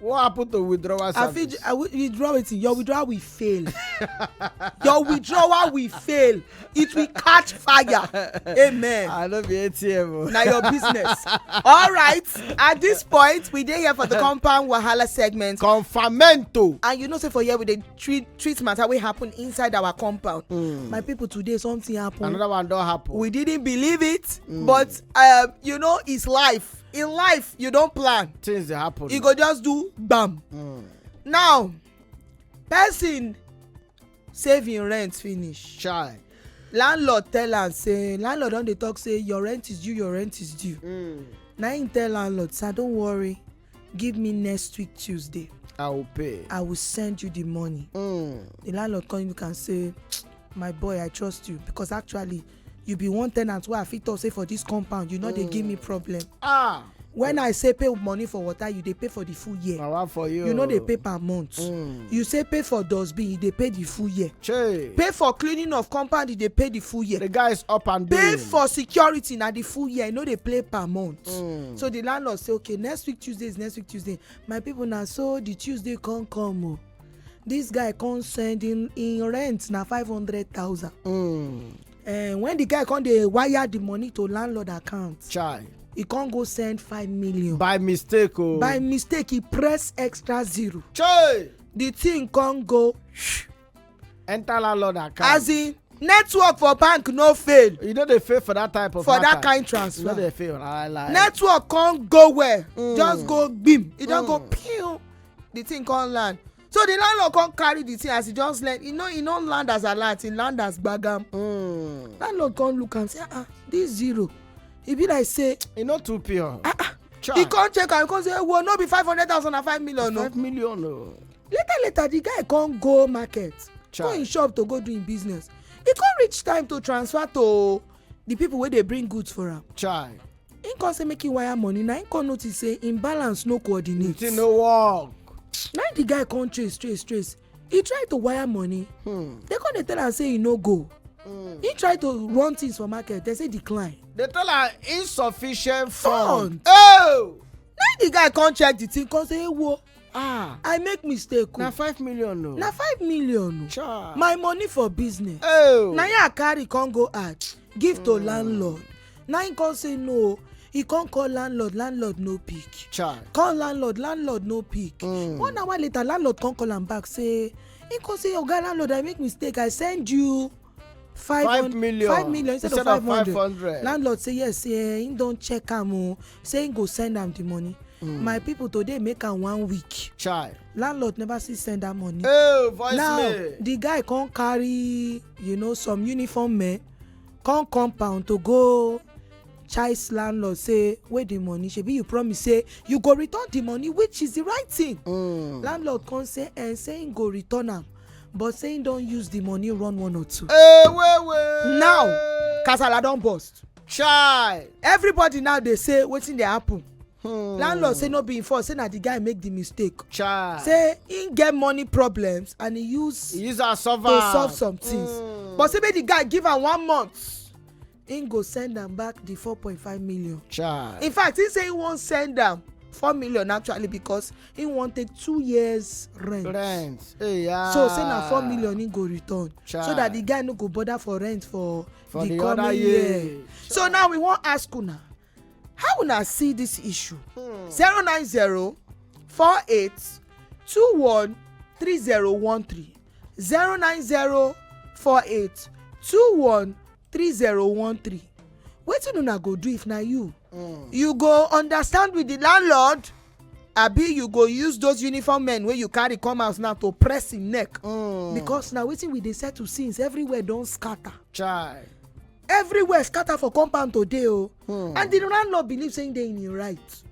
what happen to withdrawal service. i fit i withdraw wetin your withdrawal will fail your withdrawal will fail it will catch fire amen. i no be atm o. Oh. na your business all right at this point we dey here for the compound wahala segment. confamento. and you know say for here we dey treat treat matter wey happen inside our compound. Mm. my people today something happen. another one don happen. we didn't believe it mm. but um, you know it's life in life you don plan things dey happen e go just do gbam hmm. now person save him rent finish chai landlord tell am say landlord don dey talk say your rent is due your rent is due hmm. na him tell landlord sir don't worry give me next week tuesday i will pay i will send you the money hmm. the landlord come look am say my boy i trust you because actually you be one tenant wey i fit talk say for this compound you no dey give me mm. problem ah when i say pay money for water you dey pay for the full year power for you you no dey pay per month mm. you say pay for dustbin you dey pay the full year Chey. pay for cleaning of compound you dey pay the full year the guy is up and down pay for security na the full year you no dey pay per month mm. so the landlord say okay next week tuesday is next week tuesday my people na so the tuesday come come o. Oh this guy come send him him rent na five hundred thousand. Mm. Uh, when the guy come dey wire the money to landlord account. chai he come go send five million. by mistake o. Oh. by mistake he press extra zero. chai the thing come go. enter landlord account. as in network for bank no fail. you no dey fail for that type of for that kind transfer. you no dey fail. network come go well. Mm. just go gbim e don mm. go pew. the thing come land so the landlord come carry the thing as he just learn e no e no land as alert e land as gbagam mm. landlord come look am say ah, ah this zero e be like say e no too pure ah ah he come check am he come say well no be five hundred thousand na five million o five million o later later the guy come go market Child. go him shop to go do him business e come reach time to transfer to the people wey dey bring goods for am Child. him come say make him wire money na him come notice say him balance no coordinate. the thing no work. na the guy come trace trace trace he try to wire money hmm. they come dey tell am say he no go hmm. he try to run things for market they say decline. they tell am insufficient fund. fund. Oh! na the guy come check the thing come say ewo ah i make mistake o na five million o na five million o Cha. my money for business oh na him i carry come go add give to landlord na him come say no he come call landlord landlord no pick Cha. call landlord landlord no pick Mm. one hour later landlord come call am back say he come say oga landlord i make mistake i send you five million five million instead of five hundred landlord say yes say eh, him don check am o oh. say him go send am the money Mm. my people today make am one week Child. landlord never see send that money hey, voice now me. the guy come carry you know some uniform men come compound to go chase landlord say where the money shebi you promise say you go return the money which is the right thing mm. landlord come say and eh, say him go return am but say him don use the money run one or two. Hey, wait, wait. now kasala don burst. chai. everybody now dey say wetin dey happen. Hmm. landlord say no be him fault say na the guy make the mistake. chai. say him get money problems and he use. he use am solve am to solve some things. Hmm. but say make the guy give am one month him go send am back the four point five million. Child. in fact he say he wan send am four million actually because he wan take two years rent. rent hey, yeah. so say na four million he go return. Child. so that the guy no go bother for rent for, for the, the coming year. year. so now we wan ask una how una see this issue. Hmm. zero nine zero four eight two one three zero one three zero nine zero four eight two one 3013 wetin una go do if na you mm. you go understand with the landlord abi you go use those uniform men wey you carry come house now to press him neck mm. because na wetin we dey settle since everywhere don scatter chai everywhere scatter for compound today o oh. hmm. and the landlord believe say he dey in him right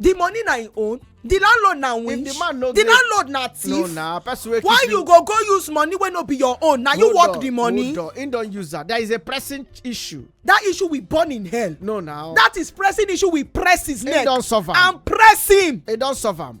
the money na im own the landlord na win the landlord na thief why you go go use money wey no be your own na you work the money hold on him don use that that is a pressing issue that issue will burn in hell no now that is pressing issue will press his neck and press him he don solve am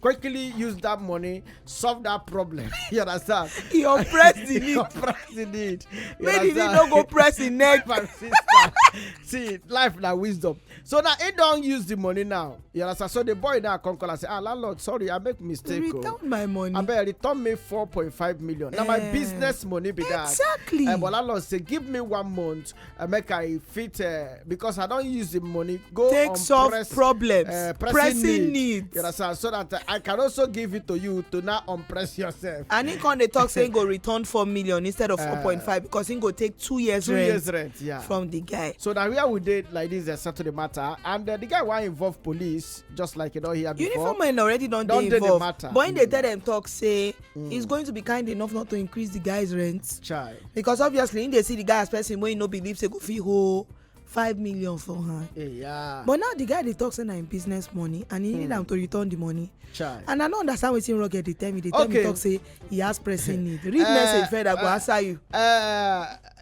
quickly use that money solve that problem you understand you oppress the need oppress the need make the need no go press the neck my sister see life na wisdom so now he don use the money now you understand so the boy now come call and say ah landlord sorry i make mistake o oh. return my money abeg return me four point five million na my eh. business money be that exactly eh, but landlord say give me one month uh, make i fit uh, because i don use the money go take solve press, problems uh, pressing, pressing needs you understand so that uh, i can also give it to you to now unpress yourself. and he come dey talk say he go return four million instead of uh, four point five because he go take two years two rent years rent yeah. from the guy. so na where we dey like this dey uh, settle the matter and uh, the guy wan involve police just like you don hear before. uniform men already don dey involved but he dey tell dem talk say mm. is going to be kind enough not to increase the guy's rent. Child. Because obviously, if they see the guy as person when you no believe say go fit hold five million for her. Hey, yeah. But now the guy dey talk say na im business money and he mm. need hmm. am to return the money. Child. And I no understand wetin Roger dey tell me. Dey tell okay. me talk say he has pressing need. Read uh, message further uh, go eh, answer you. Uh,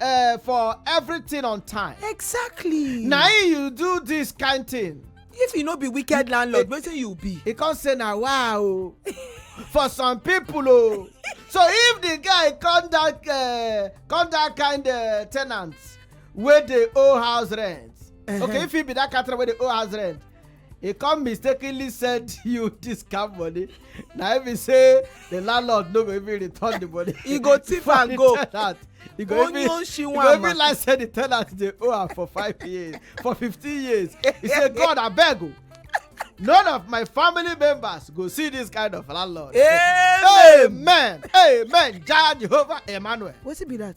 uh, for everything on time. exactly. na him you do this kind thing. if you no be wicked landlord wetin you be. he come say na wa o for some people o so if the guy come that uh, come that kind uh, ten ant wey dey owe house rent uh -huh. okay if he be that kind ten ant wey dey owe house rent e come mistakenly send you this kind money na him be say the landlord no go even return the money. e go thief and go e go even e go even like say the tenant dey owe am for five years for fifteen years he say god abeg o none of my family members go see this kind of landlord. amen amen, amen. jah jehovah emmanuel. wetin be that.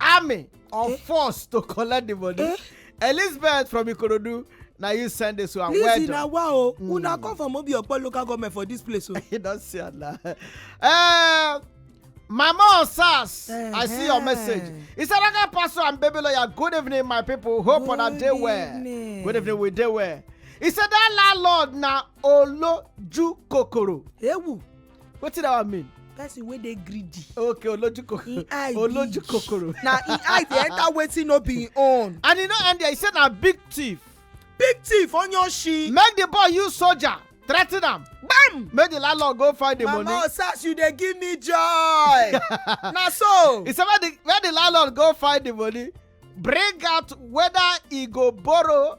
army or eh? force to collect the money eh? elizabeth from ikorodu na you send this one well done. listen na wa o hmm. una come from obi opo local government for this place o. Oh. you don see am na. Eh, mama on sars i see your message isaraka pastor and baby lawyer good evening my people hope una dey well good evening we dey well he said that landlord na oloju kokoro. ewu wetin that one mean. person wey dey greedy. okay oloju kokoro oloju kokoro. na im eye dey enter wetin no be im own. and e no end there e say na big thief. big thief onyoshi. make the boy use soldier threaten am bam make the landlord go find the money mama osas you dey give me joy na so he say where the where the landlord go find the money bring out whether he go borrow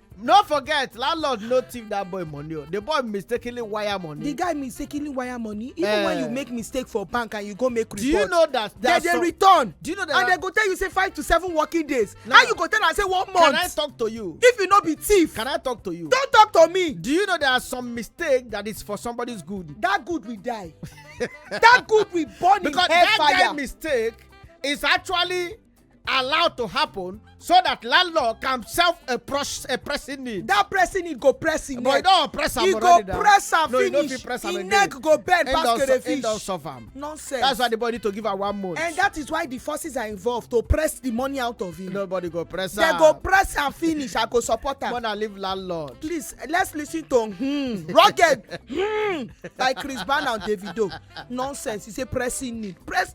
no forget landlord no thief that boy money o oh. the boy mistakenly wire money. the guy mistakenly wire money even uh, when you eh. make mistake for bank and you go make report. do you know that they dey return. do you know that and they go tell you say five to seven working days. Now, how you go tell am say one month. can i talk to you. if you no be thief. can i talk to you. don talk to me. do you know there are some mistake that is for somebody's good. that good will die. that good will burn because in hellfire. because that guy mistake is actually allowed to happen so that landlord can self a, press, a pressing need. that pressing need go press him neck. but e don press am already now. e go press am finish no, e no press am again. neck go bend end pass crayfish. end don solve am. nonsense. that's why the body to give am one month. and that is why the forces are involved to press the money out of him. nobody go press am. they go press am finish i go support am. mona leave landlord. please let's lis ten to hmm, rugged hmm, by chris brown and davido nonsense he say pressing need press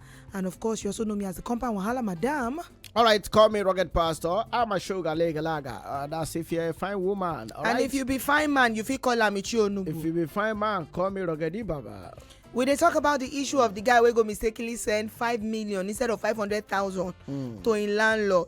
And of course, you also know me as the compound Wahala Madam. All right, call me Rocket Pastor. I'm a sugar legalaga. Uh, that's if you're a fine woman. All and right? if you be fine man, you feel call Amichi Onubu. If you be fine man, call me Rocket Baba. we dey talk about the issue of the guy wey go mistakenly send five million instead of five hundred thousand mm. to im landlord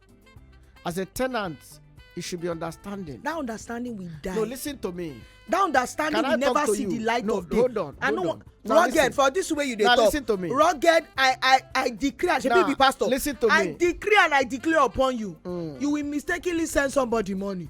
as a tenant it should be understanding. that understanding will die. no listen to me. that understanding will never see you? the light no, of day. hold on i no wan rugged listen. for this way you dey now, talk listen to me. rugged i i i decree and shebi be pastor listen to me i decree and i declare upon you mm. you will mistakenly send somebody money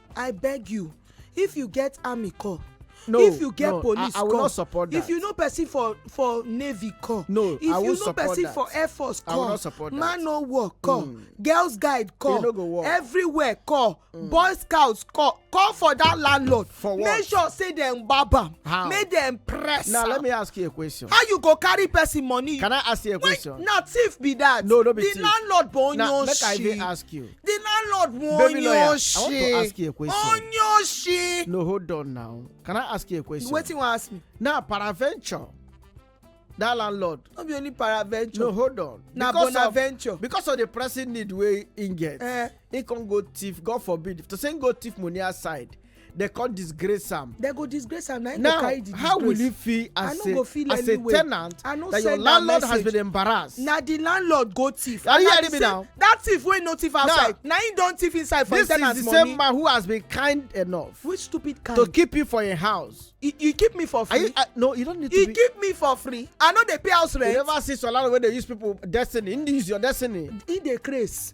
i beg you if you get army corps no if you get no, police I, I will corps not support that. if you know person for for navy corps no if I will you know person that. for air force corps I will not support man that. no war corps mm. girls guide corps no go war. everywhere corps mm. boy scouts corps call for that landlord for what? make sure say dem gbab am how make dem press am now let me ask you a question how you go carry person money can i ask you a question na thief be that no no be thief the landlord born your shit now make i even ask you The landlord mo Baby lawyer, I want to Onyoshe. ask you a question. Onyoshe. No, hold on now. Can I ask you a question? Wetin wan ask me? Now, paraventure, that landlord. No be only paraventure. No, hold on. Na Because of- bonaventure. Because of the pressing need wey he get, Eh. he come go thief, God forbid, to say he go thief money outside, they come disgrace am. they go disgrace am na him go carry the disgrace. now how will you feel as a as a tenant that your landlord has been embarrassed. na the landlord go thief. are you hearing me now. that thief wey no thief outside na him don thief inside for him tenant money. this is the same man who has been kind enough. which stupid kind. to keep you for your house. you, you keep me for free. You, uh, no you don't need to you be. you keep me for free i no dey pay house rent. you never see solar wey dey use people destiny he dey use your destiny. he dey craze.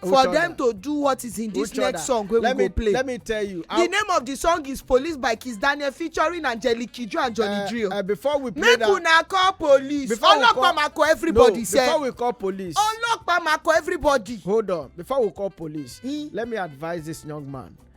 for them to do what is in this next song wey we go play let me tell you the name of the song is police by kiss daniel featuring angelique kidjo and johnny eh, drill eh, before we play that make una call police ọlọpàá ma call everybody sef before we call police ọlọpàá ma call everybody hold on before we call police hmm? let me advise this young man